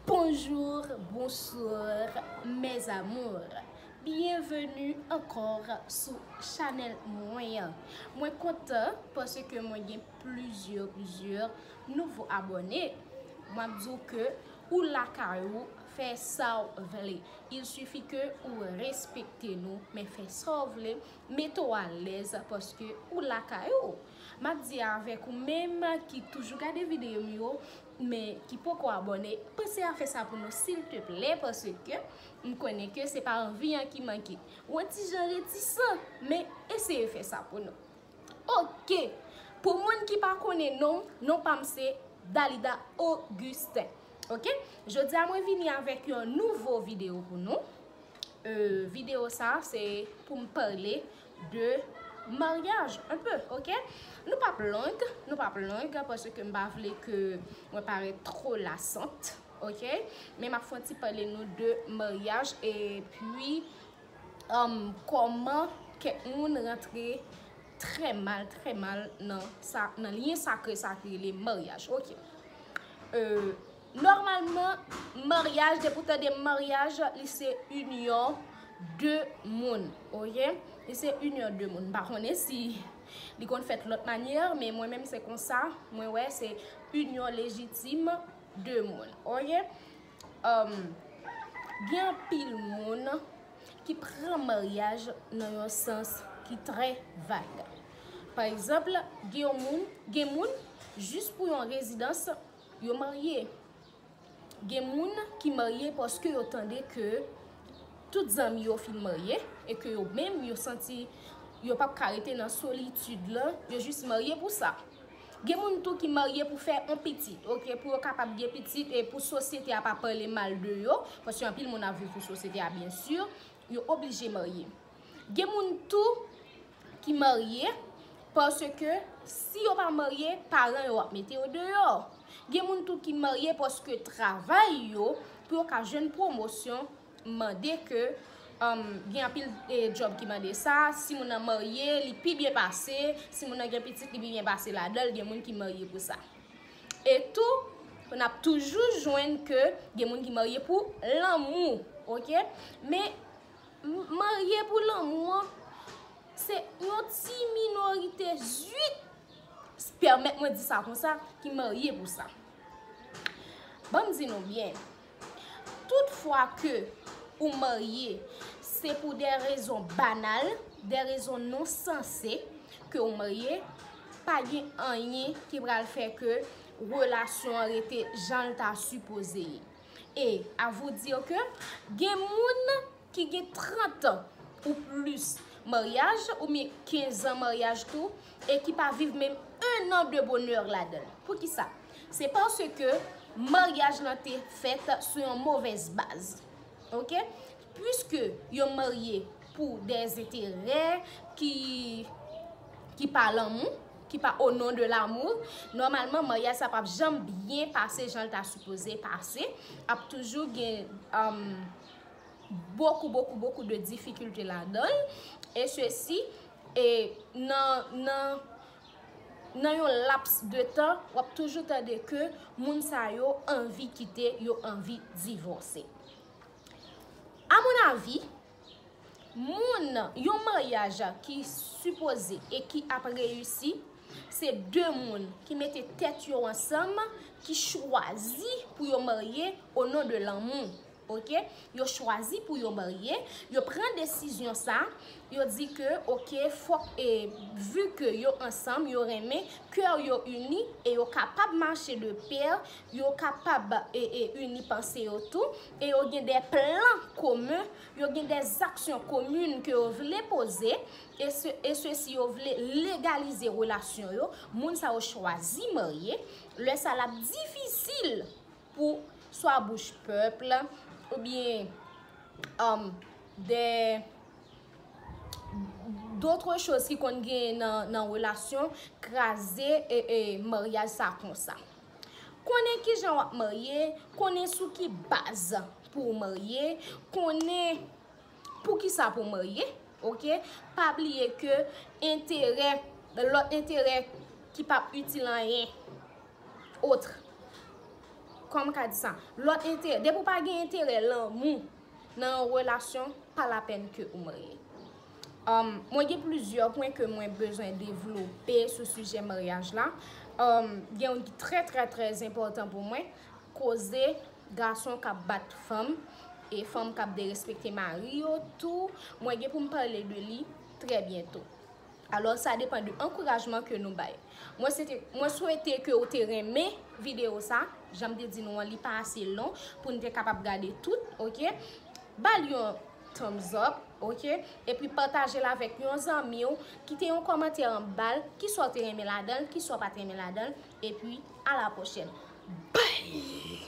Bonjour bonsoir mes amours byenveni ankò sou chanèl mwen an mwen kontan paske mwen gen plizyè plizyè nouvo abòne map diw ke ou lakay ou fè saw vle il sifi ke ou respekte nou men fè saw vle mete w alèz paske ou lakay ou. Map di avèk ou menm ki toujou gade video m yo men ki poko abòne panse a fè sa pou nou silteplè paske m konnen ke se pa anvi an ki manke ou an ti jan retisan men eseye fè sa pou nou ok pou moun ki pa konnen non m non pa m se Dalida Augustin ok jodi a mwen vini avèk yon nouvo video pou nou video sa se pou m pale de maryaj un peu ok nou pap long nou pap long paske m pa vle ke mwen parèt trò lasant ok men map fè yon ti pale nou de maryaj epi humm kòman kèk moun rantre trè mal trè mal nan sa nan lyen sakre sa ki rele maryaj ok euh. Nòmalman maryaj depi ou tande maryaj li se inyon 2 moun ok li se inyon 2 moun m pa konnen si li konn fèt lòt manyè men mwen menm se konsa mwen wè se inyon lejitim 2 moun ok gen anpil moun ki pran maryaj nan yon sans ki trè vag pa egzanp gen moun gen moun jis pou yon rezidans Yo marye. Gen moun ki marye paske yo tande ke tout zanmi yo fin marye e ke yo menm yo santi yo pap ka rete nan solitid lan, yo jis marye pou sa. Gen moun tou ki marye pou fè on pitit, ok, pou yo kapab gen pitit e pou sosyete a pa pale mal de yo, paske anpil moun ap viv pou sosyete a byen sur, yo oblije marye. Gen moun tou. ki marye paske si yo pa marye paran yo ap mete yo deyò. Gen moun tou ki marye paske travay yo pou yo ka jwenn pwomosyon mande ke gen anpil djòb ki mande sa. Si moun nan marye li pi byen pase, si moun nan gen pitit li pi byen pase ladan l, gen moun ki marye pou sa. E tou n ap toujou jwenn ke gen moun ki marye pou lanmou. Marye pou lanmou an se yon ti minorite zuit, pèmèt mwen di sa konsa, ki marye pou sa. Ban m di nou byen, tout fwa ke ou marye, se pou de rezon banal, de rezon non sanse ke ou marye, pa gen anyen ki pral fè ke relasyon an rete jan l ta sipoze ye. Et à vous dire que gen moun ki gen 30 ans ou plus maryaj ou byen 15 ans maryaj tou e ki pa viv menm 1 an de bonè ladan l. Poukisa? Se paske maryaj lan te fèt sou yon movèz baz. Ok? Puiske yo marye pou dè enterè ki pa lanmou. ki pa au nom de l'amour, nòmalman maryaj sa pap janm byen pase jan l ta sipoze pase, ap toujou gen bokou bokou bokou de difikilte ladan l, e sesi e nan nan nan yon laps de tan wap toujou tande ke moun sa yo anvi kite, yo anvi divòse. A mon avis, Moun, yon maryaj ki sipoze e ki ap reyisi, se de moun ki mete tèt yo ansanm, ki chwazi pou yo marye o non de lanmou. Ok, yo chwazi pou yo marye, yo pran desizyon sa, yo di ke ok fòk e vi ke yo ansanm, yo renmen, kè yo ini e yo kapab mache de pè, yo kapab e ini panse yo tou. e yo gen de plan komen, yo gen de zaksyon komin ke yo vle poze, e sesi yo vle legalize relasyon yo, moun sa yo chwazi marye, lè sa lap difisil pou swa bouch pèp la, ou byen de dotre choz ki konn gen nan relasyon kraze maryaj sa konsa. Konnen kijan wap marye, konnen sou ki baz pou w marye, konnen poukisa pou w marye, ok. Pa bliye ke enterè, lòt enterè ki pap itil anyen, otre, kòman ka di sa, lòt enterè, depi w pa gen enterè lanmou nan yon relasyon, pa lapèn ke ou marye. Mwen gen plizyè pwen ke mwen bezwen devlope sou sijè maryaj la. Gen youn ki trè trè trè enpòtan pou mwen, koze gason k ap bat fanm e fanm k ap derespekte mari yo tou. Mwen gen pou m pale de li trè byento. Alò sa depan de ankourajman ke nou bay. Mwen swete ke ou te renmen videyo sa. Jan m te di nou an li pa ase long pou n te kapab gade tout. Ba l yon. thumbs up ok epi patajel avèk yon zanmiw kite yon kòmantè anbal kisa ou te renmen ladanl kisa ou pat renmen ladanl epi a la pwochèn bby.